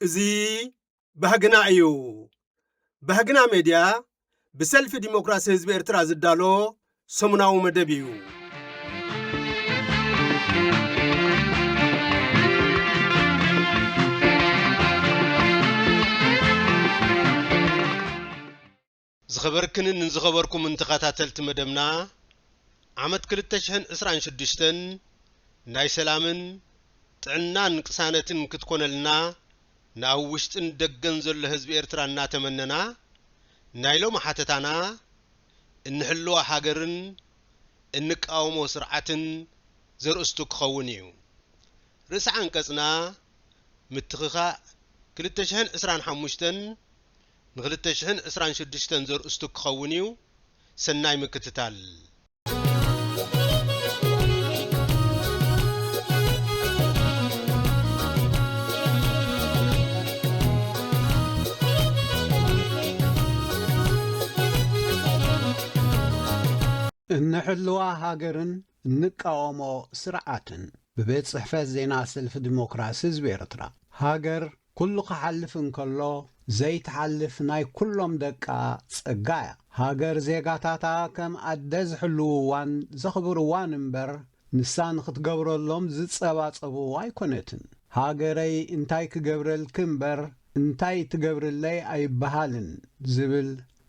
እዚ ባህግና እዩ። ባህግና ሜድያ ብሰልፊ ዲሞክራሲ ህዝቢ ኤርትራ ዝዳሎ ሰሙናዊ መደብ እዩ። ዝኸበርክንን ንዝኸበርኩምን ተኸታተልቲ መደብና ዓመት ክልተ ሽሕን ዕስራን ሽዱሽተን ናይ ሰላምን ጥዕናን ቅሳነትን ክትኮነልና ንኣብ ውሽጥን ደገን ዘሎ ህዝቢ ኤርትራ እናተመነና ናይ ሎሚ ሓተታና እንሕልዋ ሃገርን እንቃወሞ ስርዓትን ዘርእስቱ ክኸውን ኢዩ። ርእሰ ዓንቀጽና ምትኽኻእ ክልተ ሽሕን ዕስራን ሓሙሽተን ን ክልተ ሽሕን ዕስራን ሽዱሽተን ዘርእስቱ ክኸውን ኢዩ። ሰናይ ምክትታል። እንሕልዋ ሃገርን እንቃወሞ ስርዓትን ብቤት ጽሕፈት ዜና ሰልፊ ዲሞክራሲ ህዝቢ ኤርትራ ሃገር ኩሉ ክሓልፍ እንከሎ ዘይትሓልፍ ናይ ኩሎም ደቃ ጸጋ እያ። ሃገር ዜጋታታ ከም ኣደ ዝሕልውዋን ዘኽብርዋን እምበር ንሳ ንኽትገብረሎም ዝጸባጸብዋ ኣይኮነትን። ሃገረይ እንታይ ክገብረልኪ እምበር እንታይ ትገብርለይ ኣይበሃልን ዝብል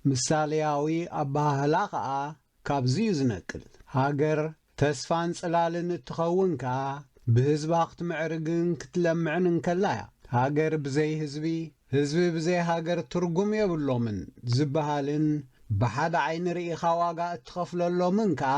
ምሳልያዊ ኣበሃህላ ከኣ ካብዚ'ዩ ዝነቅል። ሃገር ተስፋን ጽላልን እትኸውን ከኣ ብህዝባ ክትምዕርግን ክትለምዕን እንከላ'ያ። ሃገር ብዘይ ህዝቢ፣ ህዝቢ ብዘይ ሃገር ትርጉም የብሎምን ዝበሃልን ብሓደ ዓይኒ ርኢኻ ዋጋ እትኸፍለሎምን ከኣ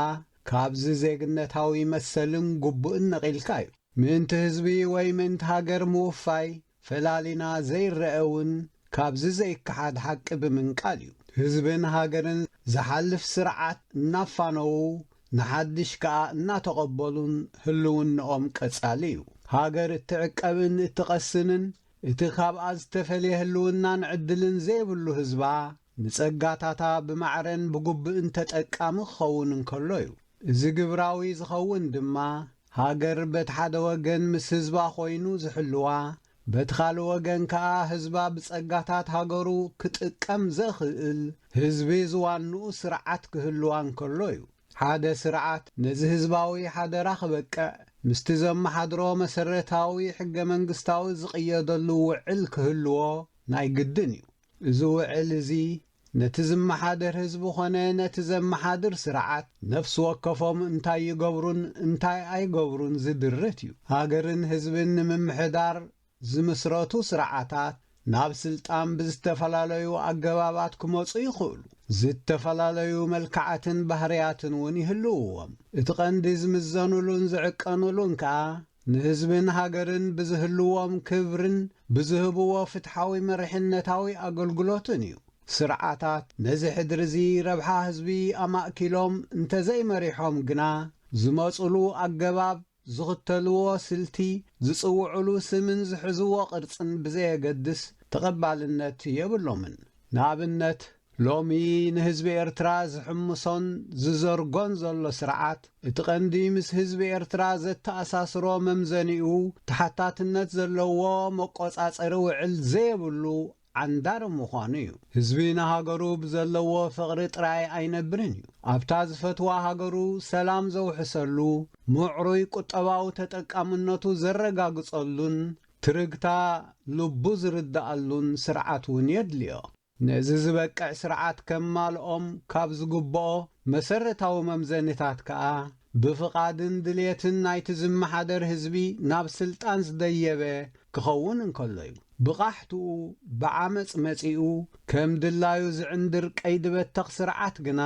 ካብዚ ዜግነታዊ መሰልን ግቡእን ነቒልካ እዩ። ምእንቲ ህዝቢ ወይ ምእንቲ ሃገር ምውፋይ ፈላሊና ዘይረኣ እውን ካብዚ ዘይከሓድ ሓቂ ብምንቃል እዩ። ህዝብን ሃገርን ዝሓልፍ ስርዓት እናፋነዉ ንሓድሽ ከኣ እናተቐበሉን ህልውንኦም ቀጻሊ እዩ። ሃገር እትዕቀብን እትቐስንን እቲ ካብኣ ዝተፈልየ ህልውናን ዕድልን ዘይብሉ ህዝባ ንጸጋታታ ብማዕረን ብጉብእን ተጠቃሚ ክኸውን እንከሎ እዩ። እዚ ግብራዊ ዝኸውን ድማ ሃገር በቲ ሓደ ወገን ምስ ህዝባ ኮይኑ ዝሕልዋ በቲ ካልእ ወገን ከኣ ህዝባ ብጸጋታት ሃገሩ ክጥቀም ዘኽእል ህዝቢ ዝዋንኡ ስርዓት ክህልዋ እንከሎ እዩ። ሓደ ስርዓት ነዚ ህዝባዊ ሓደራ ክበቅዕ ምስቲ ዘመሓድሮ መሰረታዊ ሕገ-መንግስታዊ ዝቕየደሉ ውዕል ክህልዎ ናይ ግድን እዩ። እዚ ውዕል እዚ ነቲ ዝመሓደር ህዝቢ ኮነ ነቲ ዘመሓድር ስርዓት ነፍሲ ወከፎም እንታይ ይገብሩን እንታይ ኣይገብሩን ዝድርት እዩ። ሃገርን ህዝብን ንምምሕዳር ዝምስረቱ ስርዓታት ናብ ስልጣን ብዝተፈላለዩ ኣገባባት ክመጹ ይኽእሉ። ዝተፈላለዩ መልክዓትን ባህርያትን እውን ይህልውዎም። እቲ ቀንዲ ዝምዘኑሉን ዝዕቀኑሉን ከኣ ንህዝብን ሃገርን ብዝህልዎም ክብርን ብዝህብዎ ፍትሓዊ መሪሕነታዊ ኣገልግሎትን እዩ። ስርዓታት ነዚ ሕድሪ'ዚ ረብሓ ህዝቢ ኣማእኪሎም እንተዘይመሪሖም ግና፣ ዝመጹሉ ኣገባብ፣ ዝኽተልዎ ስልቲ፣ ዝጽውዑሉ ስምን ዝሕዝዎ ቅርጽን ብዘየገድስ ተቐባልነት የብሎምን። ንኣብነት። ሎሚ ንህዝቢ ኤርትራ ዝሕምሶን ዝዘርጎን ዘሎ ስርዓት፣ እቲ ቀንዲ ምስ ህዝቢ ኤርትራ ዘተኣሳስሮ መምዘኒኡ ተሓታትነት ዘለዎ መቆጻጸሪ ውዕል ዘየብሉ ዓንዳሪ ምዃኑ እዩ። ህዝቢ ንሃገሩ ብዘለዎ ፍቕሪ ጥራይ ኣይነብርን እዩ። ኣብታ ዝፈትዋ ሃገሩ ሰላም ዘውሕሰሉ፣ ምዕሩይ ቁጠባዊ ተጠቃምነቱ ዘረጋግጸሉን ትርግታ ልቡ ዝርድኣሉን ስርዓት እውን የድልዮ። ነዚ ዝበቅዕ ስርዓት ከማልኦም ካብ ዝግብኦ መሰረታዊ መምዘኒታት ከኣ፣ ብፍቓድን ድልየትን ናይቲ ዝመሓደር ህዝቢ ናብ ስልጣን ዝደየበ ክኸውን እንከሎ'ዩ። ብቓሕትኡ ብዓመጽ መጺኡ ከም ድላዩ ዝዕንድር ቀይዲ-በተኽ ስርዓት ግና፣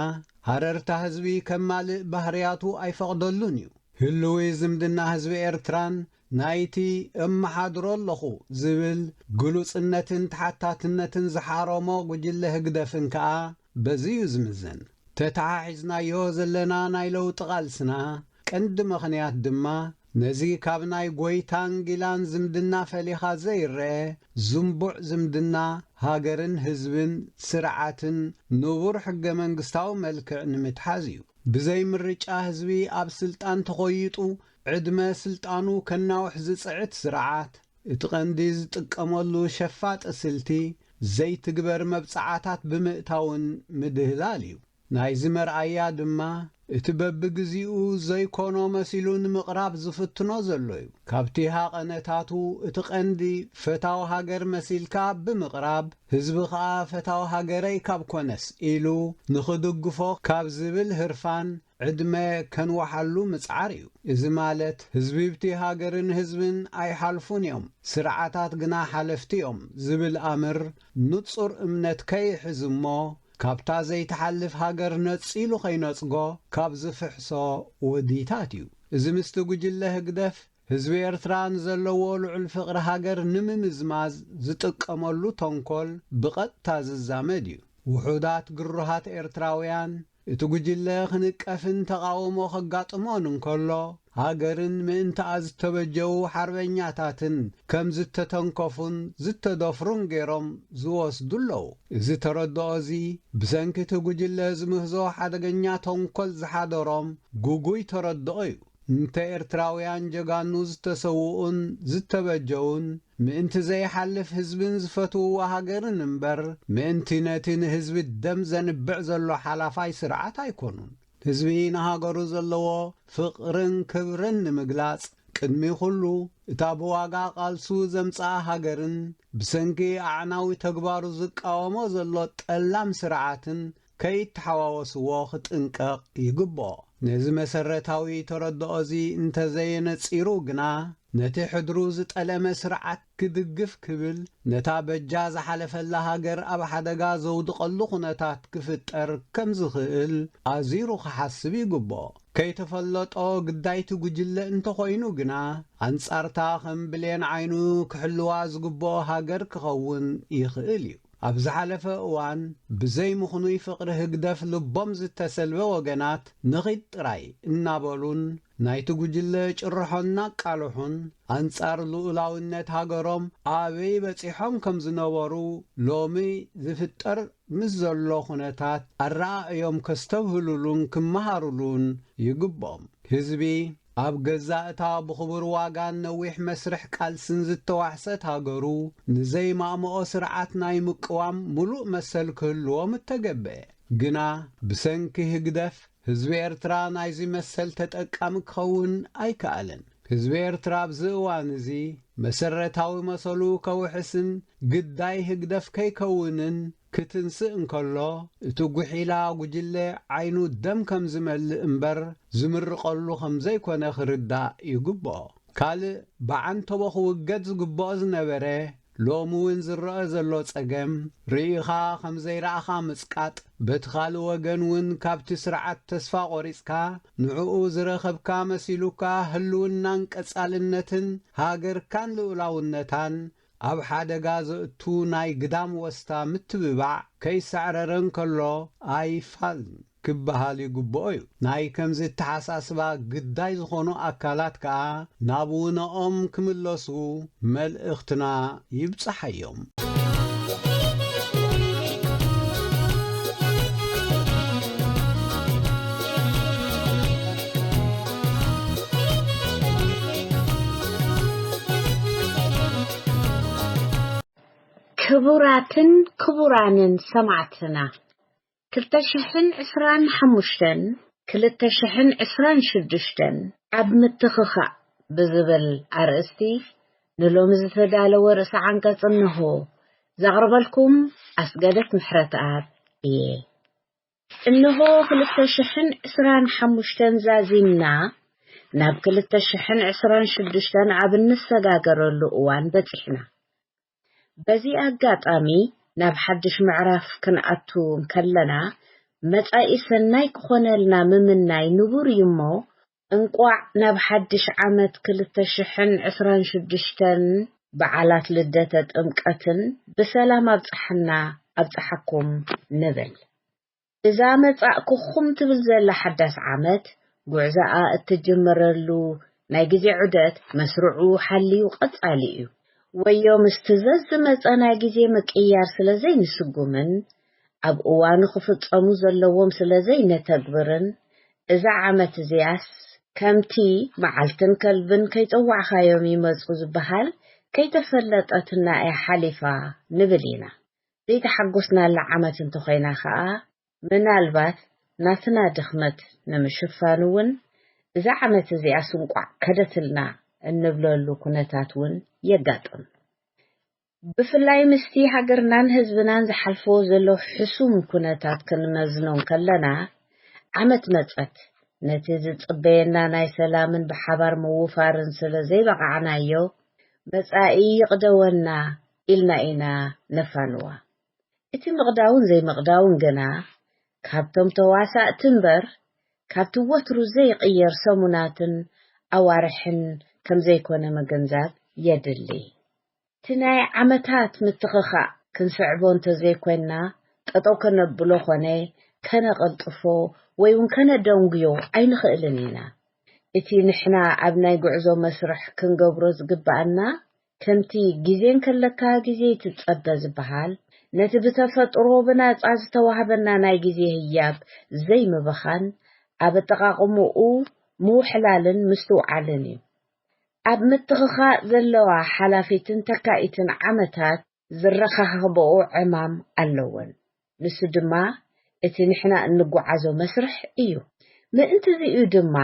ሃረርታ ህዝቢ ከማልእ ባህርያቱ ኣይፈቕደሉን'ዩ። ህልዊ ዝምድና ህዝቢ ኤርትራን ናይቲ እመሓድሮ ኣለኹ ዝብል ግሉጽነትን ተሓታትነትን ዝሓረሞ ጉጅለ ህግደፍን ከኣ በዚ'ዩ ዝምዘን። ተተሓሒዝናዮ ዘለና ናይ ለውጢ ቃልስና ቀንዲ ምኽንያት ድማ ነዚ ካብ ናይ ጎይታን ጊላን ዝምድና ፈሊኻ ዘይረኣ ዝምቡዕ ዝምድና ሃገርን ህዝብን ስርዓትን ንቡር ሕገ-መንግስታዊ መልክዕ ንምትሓዝ እዩ። ብዘይ ምርጫ ህዝቢ ኣብ ስልጣን ተኾይጡ ዕድመ ስልጣኑ ከናውሕ ዝጽዕት ስርዓት፣ እቲ ቀንዲ ዝጥቀመሉ ሸፋጢ ስልቲ፣ ዘይትግበር መብጽዓታት ብምእታውን ምድህላል እዩ። ናይዚ መርኣያ ድማ፣ እቲ በብግዜኡ ዘይኮኖ መሲሉ ንምቕራብ ዝፍትኖ ዘሎ እዩ። ካብቲ ሃቐነታቱ፣ እቲ ቀንዲ ፈታው ሃገር መሲልካ ብምቕራብ፣ ህዝቢ ከኣ ፈታው ሃገረይ ካብ ኮነስ ኢሉ ንኽድግፎ ካብ ዝብል ህርፋን፣ ዕድመ ከንዋሓሉ ምጽዓር እዩ። እዚ ማለት ህዝቢብቲ ሃገርን ህዝብን ኣይሓልፉን እዮም፣ ስርዓታት ግና ሓለፍቲ እዮም ዝብል ኣምር ንጹር እምነት ከይሕዝ እሞ ካብታ ዘይትሓልፍ ሃገር ነጺሉ ከይነጽጎ ካብ ዝፍሕሶ ወዲታት እዩ። እዚ ምስቲ ጉጅለ ህግደፍ ህዝቢ ኤርትራ ንዘለዎ ልዑል ፍቕሪ ሃገር ንምምዝማዝ ዝጥቀመሉ ተንኮል ብቐጥታ ዝዛመድ እዩ። ውሑዳት ግሩሃት ኤርትራውያን እቲ ጉጅለ ክንቀፍን ተቓውሞ ከጋጥሞን እንከሎ፣ ሃገርን ምእንትኣ ዝተበጀዉ ሓርበኛታትን ከም ዝተተንከፉን ዝተደፍሩን ገይሮም ዝወስዱ ኣለዉ። እዚ ተረድኦ እዚ ብሰንኪ እቲ ጉጅለ ዝምህዞ ሓደገኛ ተንኮል ዝሓደሮም ግጉይ ተረድኦ እዩ። እንተ ኤርትራውያን ጀጋኑ ዝተሰውኡን ዝተበጀዉን ምእንቲ ዘይሓልፍ ህዝብን ዝፈትውዋ ሃገርን እምበር ምእንቲ ነቲ ንህዝቢ ደም ዘንብዕ ዘሎ ሓላፋይ ስርዓት ኣይኮኑን። ህዝቢ ንሃገሩ ዘለዎ ፍቕርን ክብርን ንምግላጽ ቅድሚ ኩሉ እታ ብዋጋ ቃልሱ ዘምጽኣ ሃገርን ብሰንኪ ኣዕናዊ ተግባሩ ዝቃወሞ ዘሎ ጠላም ስርዓትን ከይተሓዋወስዎ ክጥንቀቕ ይግብኦ። ነዚ መሰረታዊ ተረድኦ'ዚ እንተዘየነጺሩ ግና፣ ነቲ ሕድሩ ዝጠለመ ስርዓት ክድግፍ ክብል ነታ በጃ ዝሓለፈላ ሃገር ኣብ ሓደጋ ዘውድቐሉ ኩነታት ክፍጠር ከም ዝኽእል ኣዚሩ ክሓስብ ይግብኦ። ከይተፈለጦ ግዳይቲ ጉጅለ እንተኾይኑ ግና፣ ኣንጻር'ታ ከም ብሌን ዓይኑ ክሕልዋ ዝግብኦ ሃገር ክኸውን ይኽእል እዩ። ኣብ ዝሓለፈ እዋን ብዘይ ምኽኑይ ፍቕሪ ህግደፍ ልቦም ዝተሰልበ ወገናት ንኺድ ጥራይ እናበሉን ናይቲ ጉጅለ ጭርሖ እናቃልሑን ኣንጻር ልኡላውነት ሃገሮም ኣበይ በጺሖም ከም ዝነበሩ ሎሚ ዝፍጠር ምስ ዘሎ ኩነታት ኣረኣእዮም ከስተብህሉሉን ክመሃሩሉን ይግብኦም። ህዝቢ። ኣብ ገዛእ እታ ብኽቡር ዋጋን ነዊሕ መስርሕ ቃልስን ዝተዋሕሰት ሃገሩ፣ ንዘይማእምኦ ስርዓት ናይ ምቅዋም ምሉእ መሰል ክህልዎ ምተገብኤ። ግና ብሰንኪ ህግደፍ፣ ህዝቢ ኤርትራ ናይዚ መሰል ተጠቃሚ ክኸውን ኣይከኣለን። ህዝቢ ኤርትራ ኣብዚ እዋን'ዚ፣ መሰረታዊ መሰሉ ከውሕስን ግዳይ ህግደፍ ከይከውንን፣ ክትንስእ እንከሎ እቲ ጉሒላ ጉጅለ ዓይኑ ደም ከም ዝመልእ እምበር ዝምርቐሉ ከም ዘይኮነ ክርዳእ ይግብኦ። ካልእ ብዓንተቦ ክውገድ ዝግብኦ ዝነበረ ሎሚ እውን ዝረኣ ዘሎ ጸገም ርኢኻ ከም ዘይረኣኻ ምጽቃጥ በቲ ካልእ ወገን እውን ካብቲ ስርዓት ተስፋ ቆሪጽካ ንዕኡ ዝረኸብካ መሲሉካ ህልውናን ቀጻልነትን ሃገርካን ልኡላውነታን ኣብ ሓደጋ ዘእቱ ናይ ግዳም ወስታ ምትብባዕ ከይሳዕረረ እንከሎ ኣይፋልን ክበሃል ይግብኦ'ዩ። ናይ ከምዚ እተሓሳስባ ግዳይ ዝኾኑ ኣካላት ከኣ ናብ ውነኦም ክምለሱ መልእኽትና ይብጻሓዮም። ክቡራትን ክቡራንን ሰማዕትና ክልተ ሽሕን ዕስራን ሓሙሽተን ክልተ ሽሕን ዕስራን ሽዱሽተን ኣብ ምትኽኻእ ብዝብል ኣርእስቲ ንሎሚ ዝተዳለወ ርእሰ ዓንቀጽ እነሆ። ዘቕርበልኩም ኣስገደት ምሕረትኣብ እየ። እንሆ ክልተ ሽሕን ዕስራን ሓሙሽተን ዛዚምና ናብ ክልተ ሽሕን ዕስራን ሽዱሽተን ኣብ እንሰጋገረሉ እዋን በጺሕና። በዚ ኣጋጣሚ ናብ ሓድሽ ምዕራፍ ክንኣቱ እንከለና መጻኢ ሰናይ ክኾነልና ምምናይ ንቡር እዩሞ እንቋዕ ናብ ሓድሽ ዓመት ክልተ ሽሕን ዕስራን ሽዱሽተን በዓላት ልደተ ጥምቀትን ብሰላም ኣብጽሓና ኣብጽሓኩም ንብል። እዛ መጻእኩኹም ትብል ዘላ ሓዳስ ዓመት ጉዕዛኣ እትጅምረሉ ናይ ግዜ ዑደት መስርዑ ሓልዩ ቀጻሊ እዩ። ወዮ ምስቲ ዘዝመጸ ናይ ግዜ ምቅይያር ስለዘይንስጉምን ኣብ እዋኑ ክፍጸሙ ዘለዎም ስለ ዘይነተግብርን እዛ ዓመት እዚኣስ ከምቲ መዓልትን ከልብን ከይጸዋዕካዮም ይመጹ ዝበሃል ከይተፈለጠትና እያ ሓሊፋ ንብል ኢና። ዘይተሓጎስናላ ዓመት እንተኾይና ከኣ ምናልባት ናትና ድኽመት ንምሽፋን እውን እዛ ዓመት እዚኣስ እንቋዕ ከደትልና እንብለሉ ኩነታት እውን የጋጥም ብፍላይ ምስቲ ሃገርናን ህዝብናን ዝሓልፍዎ ዘሎ ሕሱም ኩነታት ክንመዝኖ እንከለና፣ ዓመት መጸት፣ ነቲ ዝጽበየና ናይ ሰላምን ብሓባር ምውፋርን ስለ ዘይበቓዕናዮ፣ መጻኢ ይቕደወና ኢልና ኢና ነፋንዋ። እቲ ምቕዳውን ዘይምቕዳውን ግና፣ ካብቶም ተዋሳእቲ እምበር፣ ካብቲ ወትሩ ዘይቕየር ሰሙናትን ኣዋርሕን ከም ዘይኮነ ምግንዛብ የድሊ። እቲ ናይ ዓመታት ምትኽኻእ ክንስዕቦ እንተዘይኮይንና ጠጠው ከነብሎ ኮነ ከነቐልጥፎ ወይ ውን ከነደንጉዮ ኣይንኽእልን ኢና። እቲ ንሕና ኣብ ናይ ጉዕዞ መስርሕ ክንገብሮ ዝግበኣና ከምቲ ግዜ እንከለካ ግዜ ይትጸበ ዝበሃል ነቲ ብተፈጥሮ ብናጻ ዝተዋህበና ናይ ግዜ ህያብ ዘይምብኻን ኣብ ኣጠቓቕምኡ ምውሕላልን ምስትውዓልን እዩ። ኣብ ምትኽኻእ ዘለዋ ሓላፊትን ተካኢትን ዓመታት ዝረኻኸበኦ ዕማም ኣለወን። ንሱ ድማ እቲ ንሕና እንጓዓዞ መስርሕ እዩ። ምእንት'ዚ እዩ ድማ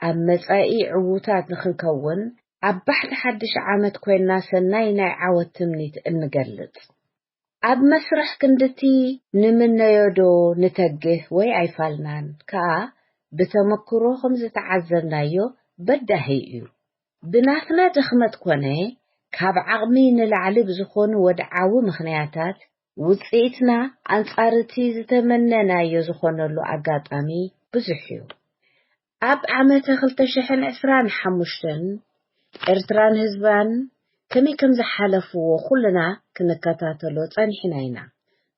ኣብ መጻኢ ዕዉታት ንኽንከውን ኣብ ባሕቲ ሓድሽ ዓመት ኮይንና ሰናይ ናይ ዓወት ትምኒት እንገልጽ። ኣብ መስርሕ ክንድቲ ንምነዮዶ ንተግህ ወይ ኣይፋልናን ከኣ ብተመክሮ ከምዝተዓዘብናዮ በዳሂ እዩ። ብናትና ድኽመት ኮነ ካብ ዓቕሚ ንላዕሊ ብዝኾኑ ወድዓዊ ምኽንያታት ውጽኢትና ኣንጻር'ቲ ዝተመነናዮ ዝኾነሉ ኣጋጣሚ ብዙሕ'ዩ። ኣብ ዓመተ ክልተ ሽሕን ዕስራን ሓሙሽተን ኤርትራን ህዝባን ከመይ ከም ዝሓለፍዎ ኩልና ክንከታተሎ ጸኒሕና ኢና።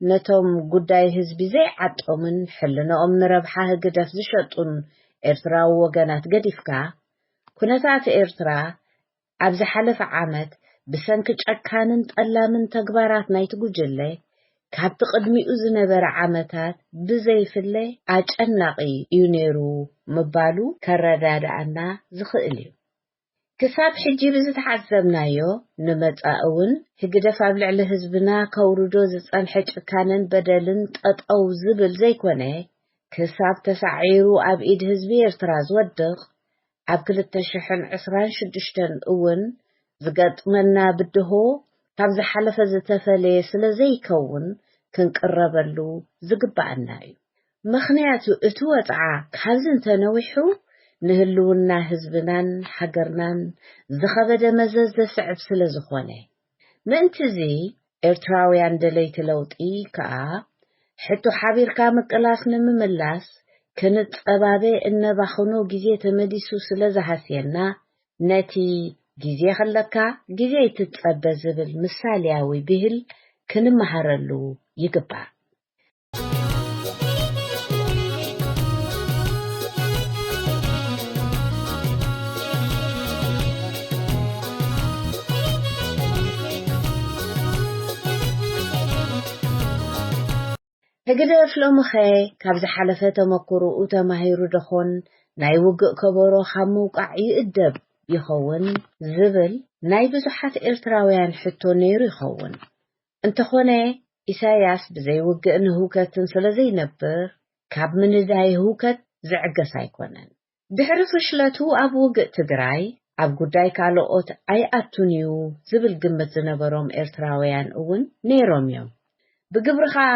ነቶም ጉዳይ ህዝቢ ዘይዓጦምን ሕልንኦም ንረብሓ ህግደፍ ዝሸጡን ኤርትራዊ ወገናት ገዲፍካ፣ ኩነታት ኤርትራ ኣብ ዝሓለፈ ዓመት ብሰንኪ ጨካንን ጠላምን ተግባራት ናይቲ ጉጅለ ካብቲ ቅድሚኡ ዝነበረ ዓመታት ብዘይፍለ ኣጨናቒ እዩ ነይሩ ምባሉ ከረዳድኣና ዝኽእል እዩ። ክሳብ ሕጂ ብዝተዓዘብናዮ ንመጻኢ እውን ህግደፍ ኣብ ልዕሊ ህዝብና ከውርዶ ዝጸንሐ ጭካነን በደልን ጠጠው ዝብል ዘይኮነ ክሳብ ተሳዒሩ ኣብ ኢድ ህዝቢ ኤርትራ ዝወድቕ ኣብ ክልተ ሽሕን ዕስራን ሽዱሽተን እውን ዝገጥመና ብድሆ ካብ ዝሓለፈ ዝተፈለየ ስለ ዘይከውን ክንቅረበሉ ዝግበኣና እዩ። ምኽንያቱ እቲ ወጽዓ ካብዚ እንተነዊሑ ንህልውና ህዝብናን ሃገርናን ዝኸበደ መዘዝ ዘስዕብ ስለ ዝኾነ። ምእንቲ'ዚ ኤርትራውያን ደለይቲ ለውጢ ከኣ ሕቶ ሓቢርካ ምቅላስ ንምምላስ ክንጸባበ እነባኽኖ ግዜ ተመሊሱ ስለ ዝሃስየና ነቲ ግዜ ከለካ ግዜ ኣይትጸበ ዝብል ምሳልያዊ ብሂል ክንመሃረሉ ይግባእ። ህግደፍ ሎምኸ ካብ ዝሓለፈ ተመኩሮኡ ተማሂሩ ደኾን ናይ ውግእ ከበሮ ካብ ምውቃዕ ይእደብ ይኸውን ዝብል ናይ ብዙሓት ኤርትራውያን ሕቶ ነይሩ ይኸውን። እንተኾነ ኢሳያስ ብዘይ ውግእን ህውከትን ስለዘይነብር ካብ ምንዳይ ህውከት ዝዕገስ ኣይኮነን። ድሕሪ ፍሽለቱ ኣብ ውግእ ትግራይ ኣብ ጉዳይ ካልኦት ኣይኣቱን'ዩ ዝብል ግምት ዝነበሮም ኤርትራውያን እውን ነይሮም'ዮም። ብግብሪ ከኣ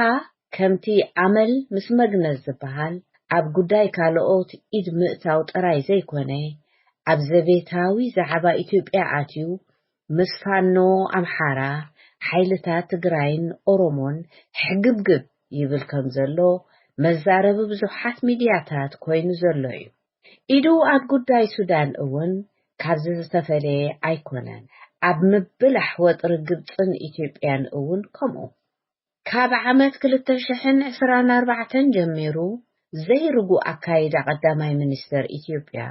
ከምቲ ኣመል ምስ መግነዝ ዝበሃል ኣብ ጉዳይ ካልኦት ኢድ ምእታው ጥራይ ዘይኮነ ኣብ ዘቤታዊ ዛዕባ ኢትዮጵያ ኣትዩ ምስ ፋኖ ኣምሓራ፣ ሓይልታት ትግራይን ኦሮሞን ሕግብግብ ይብል ከም ዘሎ መዛረቢ ብዙሓት ሚድያታት ኮይኑ ዘሎ እዩ። ኢዱ ኣብ ጉዳይ ሱዳን እውን ካብዚ ዝተፈለየ ኣይኮነን። ኣብ ምብላሕ ወጥሪ ግብፅን ኢትዮጵያን እውን ከምኡ። ካብ ዓመት ክልተ ሽሕን ዕስራን ኣርባዕተን ጀሚሩ ዘይርጉእ ኣካይዳ ቀዳማይ ሚኒስተር ኢትዮጵያ፣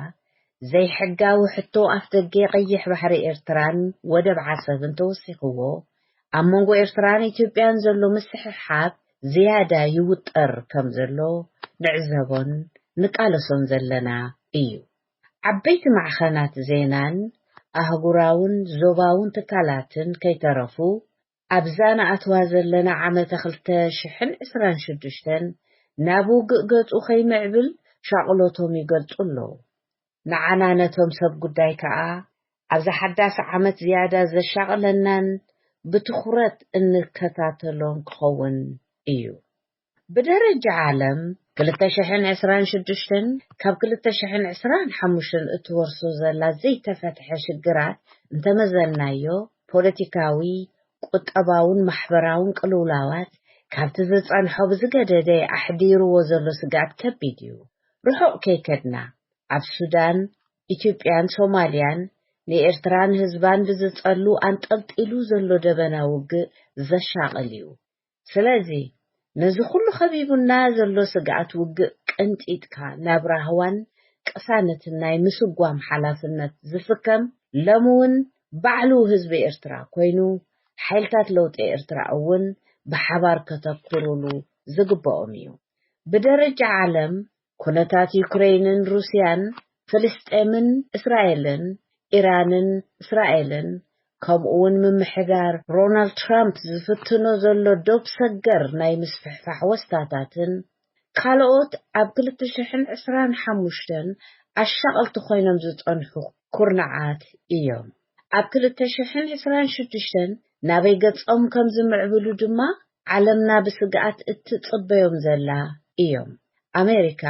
ዘይሕጋዊ ሕቶ ኣፍደገ ቀይሕ ባሕሪ ኤርትራን ወደብ ዓሰብን ተወሲኽዎ፣ ኣብ መንጎ ኤርትራን ኢትዮጵያን ዘሎ ምስሕሓብ ዝያዳ ይውጠር ከም ዘሎ ንዕዘቦን ንቃለሶን ዘለና እዩ። ዓበይቲ ማዕኸናት ዜናን ኣህጉራውን ዞባውን ትካላትን ከይተረፉ ኣብዛ ንኣትዋ ዘለና ዓመተ ክልተ ሽሕን ዕስራን ሽዱሽተን ናብ ውግእ ገጹ ከይምዕብል ሻቕሎቶም ይገልጹ ኣለዉ። ንዓና ነቶም ሰብ ጉዳይ ከኣ ኣብዛ ሓዳስ ዓመት ዝያዳ ዘሻቕለናን ብትኹረት እንከታተሎን ክኸውን እዩ። ብደረጃ ዓለም ክልተ ሽሕን ዕስራን ሽዱሽተን ካብ ክልተ ሽሕን ዕስራን ሓሙሽተን እትወርሶ ዘላ ዘይተፈትሐ ሽግራት እንተመዘንናዮ ፖለቲካዊ፣ ቁጠባውን ማሕበራውን ቅልውላዋት ካብቲ ዝጸንሖ ብዝገደደ ኣሕዲርዎ ዘሎ ስግኣት ከቢድ እዩ። ርሑቕ ከይከድና ኣብ ሱዳን፣ ኢትዮጵያን ሶማልያን ንኤርትራን ህዝባን ብዝጸሉ ኣንጠልጢሉ ዘሎ ደበና ውግእ ዘሻቕል እዩ። ስለዚ ነዚ ኩሉ ከቢቡና ዘሎ ስግኣት ውግእ ቀንጢጥካ ናብ ራህዋን ቅሳነትን ናይ ምስጓም ሓላፍነት ዝስከም ሎምውን ባዕሉ ህዝቢ ኤርትራ ኮይኑ ሓይልታት ለውጢ ኤርትራ እውን ብሓባር ከተኩሩሉ ዝግበኦም እዩ። ብደረጃ ዓለም ኩነታት ዩክረይንን ሩስያን፣ ፍልስጤምን እስራኤልን፣ ኢራንን እስራኤልን፣ ከምኡ'ውን ምምሕዳር ሮናልድ ትራምፕ ዝፍትኖ ዘሎ ዶብ ሰገር ናይ ምስፍሕፋሕ ወስታታትን ካልኦት ኣብ ክልተ ሽሕን ዕስራን ሓሙሽተን ኣሻቐልቲ ኮይኖም ዝጸንሑ ኩርናዓት እዮም። ኣብ ክልተ ሽሕን ዕስራን ሽዱሽተን ናበይ ገጾም ከም ዝምዕብሉ ድማ ዓለምና ብስግኣት እትጽበዮም ዘላ እዮም። ኣሜሪካ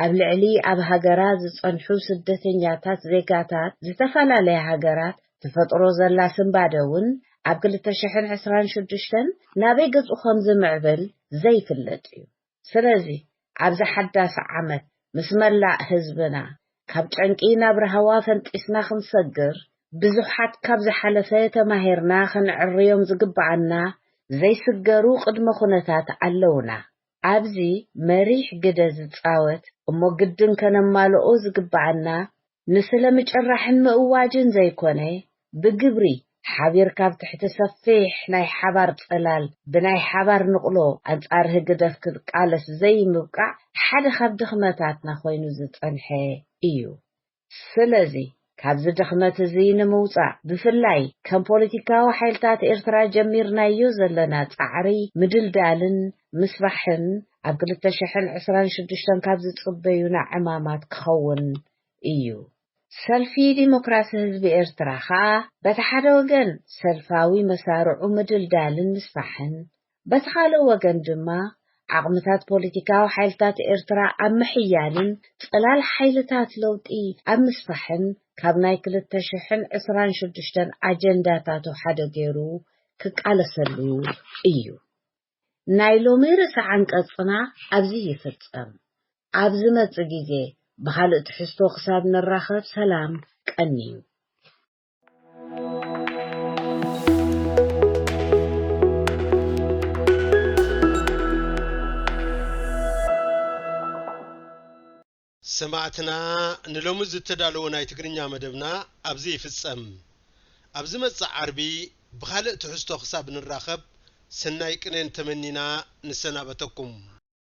ኣብ ልዕሊ ኣብ ሃገራ ዝጸንሑ ስደተኛታት ዜጋታት ዝተፈላለያ ሃገራት ትፈጥሮ ዘላ ስንባደ እውን ኣብ ክልተ ሽሕን ዕስራን ሽዱሽተን ናበይ ገጹ ከምዝምዕብል ዘይፍለጥ እዩ። ስለዚ ኣብዚ ሓዳስ ዓመት ምስ መላእ ህዝብና ካብ ጨንቂ ናብ ራህዋ ፈንጢስና ክንሰግር ብዙሓት ካብ ዝሓለፈ ተማሂርና ክንዕርዮም ዝግበኣና ዘይስገሩ ቅድመ ኩነታት ኣለውና ኣብዚ መሪሕ ግደ ዝጻወት እሞ ግድን ከነማልኦ ዝግበኣና ንስለ ምጭራሕን ምእዋጅን ዘይኮነ፣ ብግብሪ ሓቢርካ ኣብ ትሕቲ ሰፊሕ ናይ ሓባር ጽላል ብናይ ሓባር ንቕሎ ኣንጻር ህግደፍ ክትቃለስ ዘይምብቃዕ ሓደ ካብ ድኽመታትና ኮይኑ ዝጸንሐ ኢዩ። ስለዚ ካብዚ ድኽመት እዚ ንምውጻእ ብፍላይ ከም ፖለቲካዊ ሓይልታት ኤርትራ ጀሚርናዮ ዘለና ጻዕሪ ምድልዳልን ምስፋሕን ኣብ ክልተ ሽሕን ዕስራን ሽዱሽተን ካብ ዝጽበዩና ዕማማት ክኸውን እዩ። ሰልፊ ዲሞክራሲ ህዝቢ ኤርትራ ከኣ በቲ ሓደ ወገን ሰልፋዊ መሳርዑ ምድልዳልን ምስፋሕን፣ በቲ ካልእ ወገን ድማ ዓቕምታት ፖለቲካዊ ሓይልታት ኤርትራ ኣብ ምሕያልን ጽላል ሓይልታት ለውጢ ኣብ ምስፋሕን ካብ ናይ ክልተ ሽሕን ዕስራን ሽዱሽተን ኣጀንዳታቱ ሓደ ገይሩ ክቃለሰሉ እዩ። ናይ ሎሚ ርእሰ ዓንቀጽና ኣብዚ ይፍጸም። ኣብ ዝመጽእ ግዜ ብኻልእ ትሕዝቶ ክሳብ ንራኸብ ሰላም ቀንዩ። ሰማዕትና ንሎሚ ዝተዳለወ ናይ ትግርኛ መደብና ኣብዚ ይፍጸም። ኣብ ዝመጽእ ዓርቢ ብኻልእ ትሕዝቶ ክሳብ ንራኸብ ሰናይ ቅኔን ተመኒና ንሰናበተኩም።